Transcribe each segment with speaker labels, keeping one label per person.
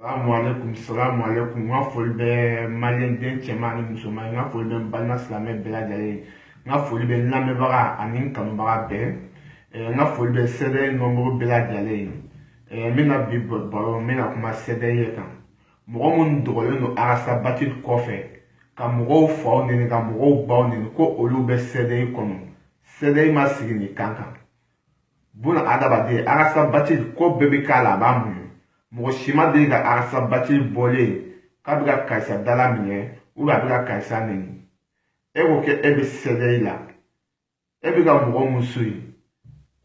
Speaker 1: salamu aleykum salamu aleykum n ka foli bɛ maliyɛnden cɛman ni musoman ye n ka foli bɛ n balima silamɛ bɛɛ lajɛlen ye n ka foli bɛ n lamɛnbaga ani n kanubaga bɛɛ n ka foli bɛ CDR manburu bɛɛ lajɛlen ye n bɛna bi baro n bɛna kuma CDR de kan mɔgɔ minnu dogolen don arasabati kɔfɛ ka mɔgɔw faw neni ka mɔgɔw baw neni ko olu bɛ CDR kɔnɔ CDR ma sigi nin kan kan buna adamaden arasa batili ko bɛɛ bɛ k'a la a b'a muɲu mɔgɔ si ma deli ka arasa batili bɔlen ye k'a bɛ ka karisa dala minɛ ou bien a bɛ ka karisa neni e ko kɛ e bɛ CDR la e bɛ ka mɔgɔ mun suivi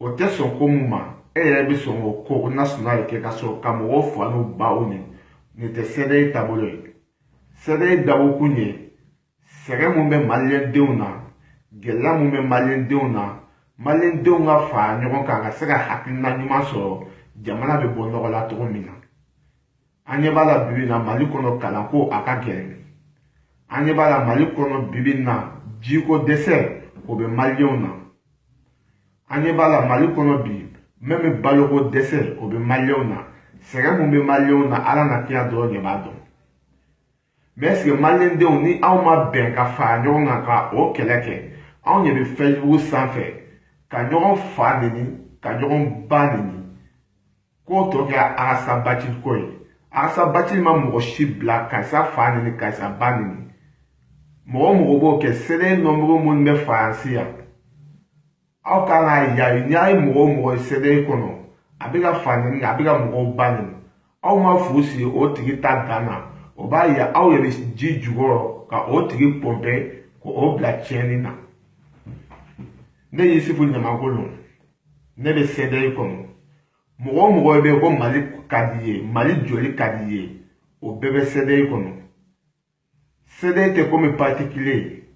Speaker 1: o tɛ sɔn ko mun ma e yɛrɛ bɛ sɔn k'o ko o nasuna de kɛ ka sɔrɔ ka mɔgɔw fa n'u baw neni nin tɛ CDR taabolo ye CDR dabɔkun ye sɛgɛn mun bɛ maliyɛndenw na gɛlɛya mun bɛ maliyɛndenw na maliyɛndenw ka fara ɲɔgɔn kan ka se ka hakilina ɲuman sɔrɔ jamana bɛ bɔ nɔgɔ la cogo min na an ɲɛ b'a la bibi na mali kɔnɔ kalanko a ka gɛlɛn an ɲɛ b'a la mali kɔnɔ bibi na jiko dɛsɛ o bɛ maliyɛnw na an ɲɛ b'a la mali kɔnɔ bi même baloko dɛsɛ o bɛ maliyɛnw na sɛgɛn mun bɛ maliyɛnw na ala n'a kira dɔrɔn de b'a dɔn mais est-ce que maliyɛndenw ni anw ma bɛn ka fara ɲɔgɔn kan ka o kɛlɛ kɛ anw ɲɛ bɛ facebook sanfɛ ka ɲɔgɔn fa neni ka ɲɔgɔn ba neni k'o tɔgɔ kɛra arasa bacili ko ye arasa bacili ma mɔgɔ si bila karisa fa neni karisa ba neni mɔgɔ mɔgɔ b'o kɛ CDR manburu minnu bɛ faransi yan aw kan ka yayi ni a ye mɔgɔ o mɔgɔ ye CDR kɔnɔ a bɛ ka fa neni a bɛ ka mɔgɔw ba neni aw ma fu sigi o tigi ta dan na o b'a yira aw yɛrɛ ji jukɔrɔ ka o tigi pɔnpɛ k'o bila tiɲɛni na ne yusufu ɲamakolo ne bɛ CDR kɔnɔ mɔgɔ o mɔgɔ bɛ yen ko mali ka di ye mali joli ka di ye o bɛɛ bɛ CDR kɔnɔ CDR tɛ komi particulier ye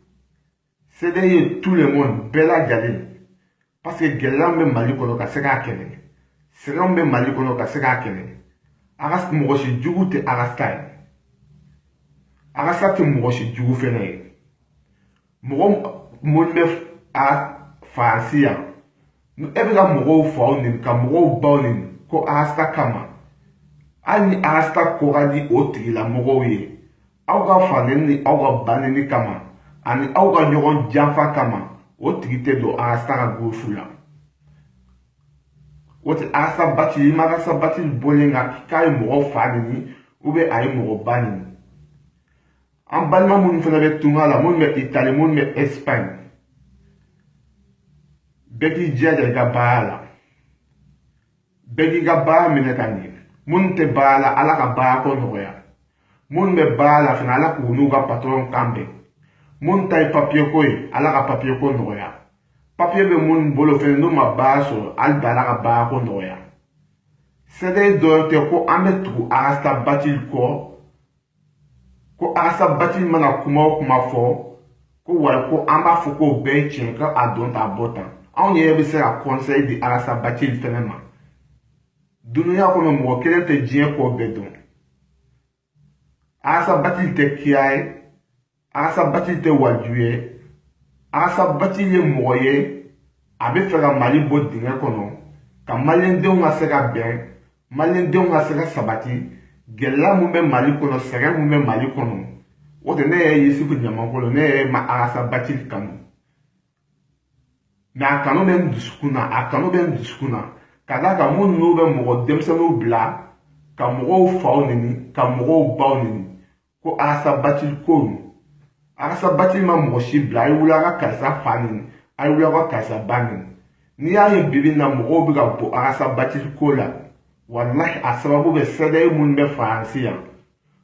Speaker 1: CDR ye tout le monde bɛɛ lajɛlen parce que gɛlɛyaw bɛ mali kɔnɔ ka se k'a kɛlɛ sɛgɛnw bɛ mali kɔnɔ ka se k'a kɛlɛ arasa mɔgɔ si jugu tɛ arasa ye arasa tɛ mɔgɔ si jugu fɛnɛ ye mɔgɔ mun bɛ faransi yan e bɛ ka mɔgɔw faw neni ka mɔgɔw baw neni ko arasta kama hali ni arasta ko ka di o tigilamɔgɔw ye aw ka faneni ni aw ka baneni kama ani aw ka ɲɔgɔn janfa kama o tigi tɛ don arasta ka gurufu la o tɛ arasta bati i ma arasta bati bɔlen ka k'a ye mɔgɔ fa neni ou bien a ye mɔgɔ ba neni an balima minnu fana bɛ tunga la minnu bɛ itali minnu bɛ espagne bɛɛ k'i jija i ka baara la bɛɛ k'i ka baara minɛ ka ɲɛ minnu tɛ baara la ala ka baara ko nɔgɔya minnu bɛ baara la fana ala k'u n'u ka patɔrɔn kan bɛn minnu ta ye papiye ko ye ala ka papiye ko nɔgɔya papiye bɛ minnu bolo fɛnɛ n'u ma baara sɔrɔ hali bi ala ka baara ko nɔgɔya CDR dɔrɔn tɛ ko an bɛ tugu arasa batili kɔ ko arasa bati mana kuma o kuma fɔ ko walahi ko an b'a fɔ k'o bɛɛ ye tiɲɛ ka a don t'a bɔ tan anw yɛrɛ bɛ se ka kɔnsɛyi di arasa bati fɛnɛ ma dunuya kɔnɔ mɔgɔ kelen tɛ diɲɛ ko bɛɛ dɔn arasa bati tɛ kira ye Arasa Bati tɛ waliju ye Arasa Bati ye mɔgɔ ye a bɛ fɛ ka Mali bɔ dingɛ kɔnɔ ka maliyɛndenw ka se ka bɛn maliyɛndenw ka se ka sabati gɛlɛya min bɛ Mali kɔnɔ sɛgɛn min bɛ Mali kɔnɔ o tɛ ne yɛrɛ Yusufu Ɲamakolo ne yɛrɛ ma Arasa Bati kanu mɛ a kanu bɛ n dusukun na a kanu bɛ n dusukun na ka d'a kan minnu n'u bɛ mɔgɔ denmisɛnninw bila ka mɔgɔw faw neni ka mɔgɔw baw neni ko arasa bati ko arasa bati ma mɔgɔ si bila a ye wuli a ka karisa fa neni a ye wuli a ka karisa ba neni n'i y'a ye bi bi in na mɔgɔw bɛ ka bɔ arasa bati ko la walahi a sababu bɛ CDR minnu bɛ faransi yan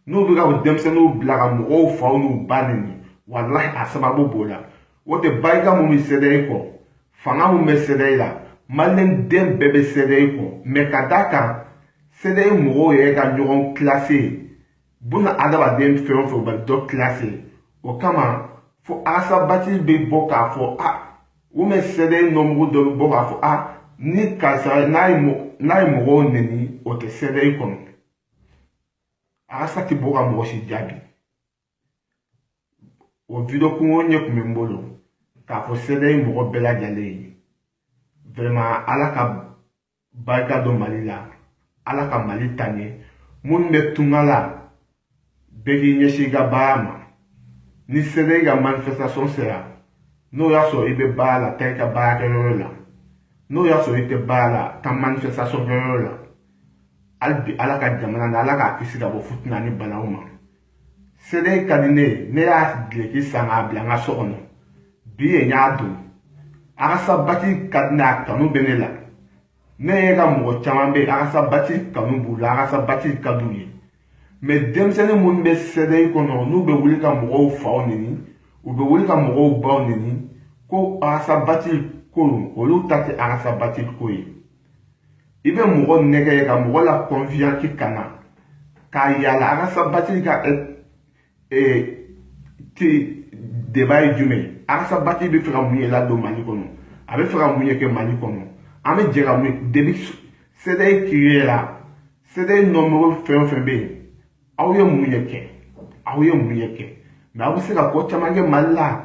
Speaker 1: n'u bɛ ka denmisɛnninw bila ka mɔgɔw faw n'u ba neni walahi a sababu b'o la o tɛ barika mun bɛ CDR kɔ fanga mun bɛ CDR la maliyɛn den bɛɛ bɛ CDR kɔ mɛ ka d'a kan CDR mɔgɔw yɛrɛ ka ɲɔgɔn kilase buna adamaden fɛn o fɛn bɛ dɔ kilase o kama fo arasa bati bɛ bɔ k'a fɔ a u bɛ CDR nɔmugu dɔ bɛ bɔ k'a fɔ a ni karisa n'a ye mɔgɔw neni o tɛ CDR kɔnɔ arasa tɛ bɔ ka mɔgɔ si jaabi o video kunkurunnin tun bɛ n bolo k'a fɔ CDR mɔgɔ bɛɛ lajɛlen ye vraiment ala ka barika don mali la ala ka mali taa ɲɛ minnu bɛ tunga la bɛɛ k'i ɲɛsin i ka baara ma ni CDR ka manifestation sera n'o y'a sɔrɔ i bɛ baara la taa i ka baarakɛyɔrɔ la n'o y'a sɔrɔ i tɛ baara la taa manifestation kɛyɔrɔ la hali bi ala ka jamana na ala k'a kisi ka bɔ futina ni balawu ma CDR ka di ne ye ne y'a dileki san k'a bila n ka so kɔnɔ bi ye n y'a don arasa bati ka di ne a kanu bɛ ne la ne yɛrɛ ka mɔgɔ caman bɛ yen arasa bati kanu b'u la arasa bati ka d'u ye mɛ denmisɛnnin minnu bɛ CDR kɔnɔ n'u bɛ wuli ka mɔgɔw faw neni u bɛ wuli ka mɔgɔw baw neni ko arasa bati ko olu ta tɛ arasa bati ko ye i bɛ mɔgɔ nɛgɛ ye ka mɔgɔ la kɔnvɛnki ka na k'a yala a ka sabati ka te deba ye jumɛn ye a ka sabati bɛ fɛ ka mun ye ladon mali kɔnɔ a bɛ fɛ ka mun ye kɛ mali kɔnɔ an bɛ jɛ ka mun debi sɛdɛyi kiri la sɛdɛyi nɔmɔgɔ fɛn o fɛn bɛ yen aw ye mun ye kɛ aw ye mun ye kɛ mɛ aw bɛ se ka ko caman kɛ mali la